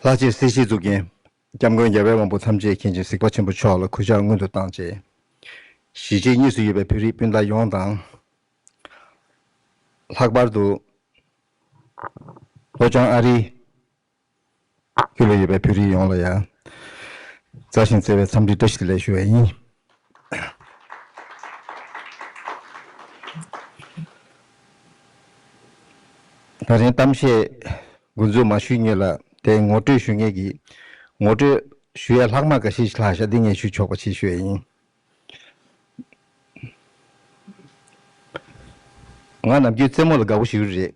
ལྷག་ཆད་སྲིད་ཞིའི་གཙུག་རྒྱན། སྐྱབས་མགོན་རྒྱལ་བའི་དབང་པོ་ཐམས་ཅད་མཁྱེན་ཅིང་གཟིགས་པ་ཆེན་པོ་མཆོག་ལ་གུས་ཕྱག་སྔོན་དུ་བཏང། ཅེས་གཞིས་བྱེས་གཉིས་སུ་ཡོད་པའི་བོད་རིགས་སྤུན་ཟླ་ཡོངས་དང། ལྷག་པར་དུ། ལྷོ་བྱང་ཨ་རིའི་ཁྱོད་ལ་ཡོད་པའི་བོད་རིགས་ཡོངས་ལ་ཡང། མཛའ་ཞིང་བརྩེ་བའི་འཚམས་འདྲི་བཀྲ་ཤིས་བདེ་ལེགས་ཞུ་བ་ཡིན། ད་རིང་གཏམ་བཤད་འགོ་འཛུགས་མ་ཞུས་མྱོད་ལ་དེ་ངོ་སྤྲོད་ཞུ་ངེས་ཀྱིས། ངོ་སྤྲོད་ཞུ་ཡ་ལྷག་མ་འགའ་ཤས་ཤིག་ལྷག་ཤ་ལྡིང་ངས་ཞུས་ཆོག་པ་ཞིག་ཞུ་བ་ཡིན། ང་ནམ་རྒྱུན་རྩེད་མོ་ལ་དགའ་བོ་ཞིག་རེད།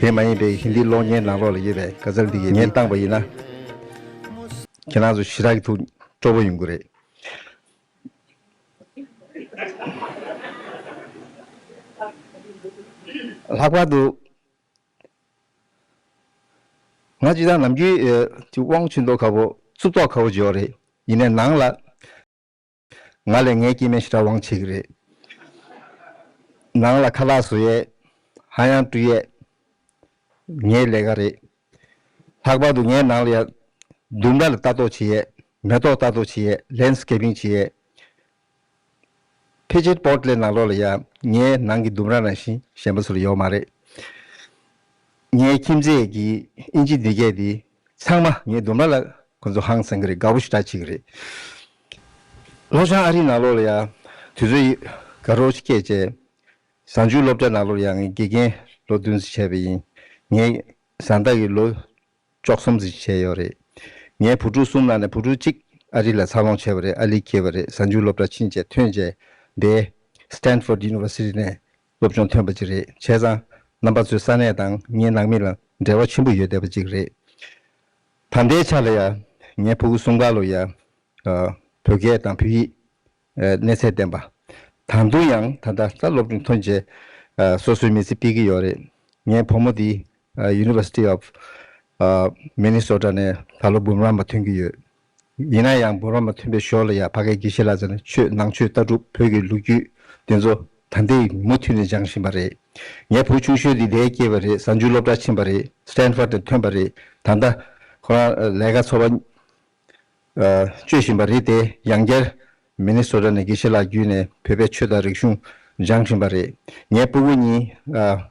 དེ་མ་ཡིན་པའི་ཧིན་དིའི་གློག་བརྙན་ནང་ལོགས་ལ་ཡོད་པའི་དགའ་ཚལ་འདི་ངས་བཏང་པ་ཡིན་ན། ཁྱེད་རང་ཚོ་ཞི་དྲག་གི་ཐུགས་སྤྲོ་པོ་ཡོང་གི་རེད། ལྷག་པར་དུ། ང་སྤྱིར་བཏང་ནམ་རྒྱུན་དབང་ཆེན་ཏོག་ཁ་བོ་རྩུབ་ཏོག་ཁ་བོ་ཇོ་རེད། ཡིན་ནས་ནང་ལ། ང་ལས་ངའི་སྐྱེས་མའི་ཤི་ར་བང་ཆེ་གི་རེད། ནང་ལ་ཁ་ལག་བཟོ་ཡས། ཧ་ཡང་བཀྲུ་ཡས། ངའི་ལས་ཀ་རེད། ལྷག་པར་དུ་ངའི་ནང་ལ་ཡང། མདུན་མདའ་ལ་ལྟ་རྟོག་བྱེད་ཡས། མེ་ཏོག་ལྟ་རྟོག་བྱེད་ཡས་ལན་སི་ཀེ་པིང་བྱེད་ཡས། ཕེ་ཆེད་པོར་ཏི་ལའི་ནང་ལོགས་ལ་ཡང་ངའི་ནང་གི་ལྡུམ་ར་རང་བཞིན་གཞན་པ་སུ་ལ་ཡོག་མ་རེད། ངའི་ཁྱིམ་མཚེས་ཀྱི་ཨིན་ཇི་ནི་ཀས་དེ་ཚང་མ་ངའི་ལྡུམ་ར་ལ་ཁོ་ཚོ་ཧང་སང་གི་རེད་དགའ་བོ་ཞིག་དྲག་ཆེ་གི་རེད། ལྷོ་བྱང་ཨ་རིའི་ནང་ལོགས་ལ་ཡང་དུས་ཚོད་ཡི་ག་རོགས་ཤིག་སྐྱེལ་བྱས། བཟང་ཆུའི་སློབ་གྲྭའི་ནང་ལོགས་ལ་ཡང་ངའི་དགེ་རྒན་ལོ་བདུན་ཟིག་བྱས་པ་ཡིན། ངའི་བཟང་བདག་གིས་ལོ་བཅོ་གསུམ་ཟིག་བྱས་ཡོད་རེད། ངའི་བུ་ཕྲུག་གསུམ་ནང་ནས་བུ་ཕྲུག་གཅིག་ཨ་རི་ལ་འཚར་ལོངས་བྱས་པ་རེད་ཨ་ལི་སྐྱེས་པ་རེད་བཟང་ཆུའི་སློབ་གྲྭ་ཕྱིན་བྱས་ཐོན་བྱས་འདས། Stanford University ནས་སློབ་སྦྱོང་ཐོན་པ་ཅིག་རེད་བྱས་ཙང། རྣམ་པ་ཚོའི་ས་གནས་དང་ངའི་ནང་མི་ལ་འབྲེལ་བ་ཆེན་པོ་ཡོད་བསྡད་པ་ཅིག་རེད། ད་ལྟའི་ཆ་ལ་ཡང་ངའི་ཕུ་གུ་སུང་ག་ལོ་ཡང། བོད་སྐད་དང་བོད་ཡིག་གནས་ཚད་ལྡན་པ། དང་དུ་ཡང་ད་ལྟ་རྩ་སློབ་སྦྱོང་ཐོན་རྗེས། སོ་སོའི་མི་ཚེ་སྤེལ་གྱི་ཡོད་རེད། ངའི་བུ་མོ་འདི University of Minnesota ནས་ད་ལོ་འབུམ་རམས་པ་ཐོན་གྱི་ཡོད། ཡིན་ན་ཡང་འབུར་བ་མ་ཐོན་པའི་ཞོར་ལ་ཡང་ཕ་གའི་དགེ་བཤེས་ལགས་ཚོ་ནས་ཆོས་ནང་ཆོས་ལྟ་གྲུབ་བོད་ཀྱི་ལོ་རྒྱུས་དེ་ཚོ་ད་ལྟའི་ཉིན་མུ་མཐུད་ནས་སྦྱང་བཞིན་པ་རེད། ངའི་བུ་ཆུང་ཤོས་འདི་འདས་སྐྱེས་པ་རེད་གཟའ་མཇུག་སློབ་གྲྭར་ཕྱིན་པ་རེད Stanford ནས་ཐོན་པ་རེད་ད་ལྟ་ཁོ་རང་ལས་ཀ་འཚོ་བ་སྤྱོད་བཞིན་པ་རེད་དེ་ཡང་བསྐྱར་མེ་ནི་སོ་ཏྲ་ནི་ཀི་ཤི་ལགས་བརྒྱུད་ནས་བོད་པའི་ཆོས་དང་རིག་གཞུང་སྦྱང་བཞིན་པ་རེད། ངའི་སྤུ་བོ་གཉིས།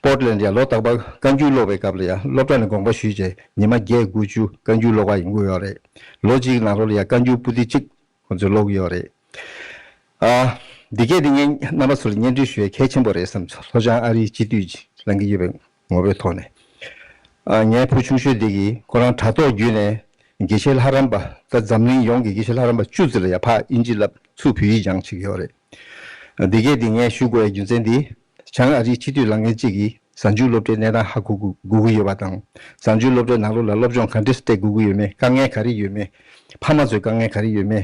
Portland། ཡང་ལོ་རྟག་པར་བཀའ་འགྱུར་ཀློག་པའི་སྐབས་ལ་ཡང་སློབ་གྲྭ་ནས་དགོངས་པ་ཞུས་རྗེས་ཉི་མ་བརྒྱད་དགུ་བཅུ་བཀའ་འགྱུར་ཀློག་པ་ཡིན་གྱི་ཡོད་རེད། ལོ་གཅིག་གི་ནང་རོལ་ལ་ཡང་བཀའ་འགྱུར་སྤུ་ཏི་གཅིག་ཁོང་ཚོས་ཀློག་གི་ཡོད་རེད། འདི་སྐད་དེ་ངས་རྣམ་པ་ཚོ་ལ་སྙན་སྒྲོན་ཞུ་བའི་གལ་ཆེན་པོ་རེད་བསམ། ལྷོ་བྱང་ཨ་རིའི་སྤྱི་འཐུས་ལངས་ཀྱི་ཡོད་པའི་ངོ་བོའི་ཐོག་ནས། ངའི་བུ་ཆུང་ཤོས་དེ་གིས་ཁོ་རང་དྲ་ཐོག་བརྒྱུད་ནས་དགེ་བཤེས་ལྷ་རམས་པ་དང་འཛམ་གླིང་ཡོངས་ཀྱི་དགེ་བཤེས་ལྷ་རམས་པ་བཅུ་བརྩི་ལ་ཡ་ཕག་དབྱིན་ཇི་ལབ་ཚུགས་བོད་ཡིག་སྦྱང་བྱེད་ཀྱི་ཡོད་རེད། དེ་གས་དེ་ངས་ཞུ་དགོས་ཡ་རྒྱུ་མཚན་དེ། བྱང་ཨ་རིའི་སྤྱི་འཐུས་ལང་ངན་གཅིག་གིས་བཟང་སྤྱོད་སློབ་གྲྭའི་གནས་སྟངས་ཧ་གོ་དགོས་ཀྱི་ཡོད་པ་དང་བཟང་སྤྱོད་སློབ་གྲྭའི་ནང་ལོགས་ལ་སློབ་སྦྱོང་ག་འདྲས་སུ་སྤྲད་དགོས་ཀྱི་ཡོད་མེད་དཀའ་ངལ་ག་རེ་ཡོད་མེད་ཕ་མ་ཚོས་དཀའ་ངལ་ག་རེ་ཡོད་མེད་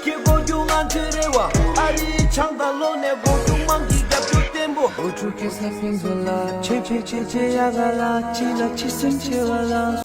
སྐྱེ་སྒོ་རྒྱུ་ང་ཚོའི་རེ་བ། ཨ་རིའི་ཆང་དང་ལོ་ནས་སྒོ་དྲུག་དམངས་ཀྱི་རྒྱབ་སྐྱོར་བརྟན་པོ། ཨོ་ཕྲུག་གི་ས་ཕིང་བཟོ་ལ། ཆོས་ཕྱོད་ཆོས་ཆེ་ཡ་ག་ལ། སྤྱི་ལ་སྤྱི་སེམས་ཆེ་བ་ལ།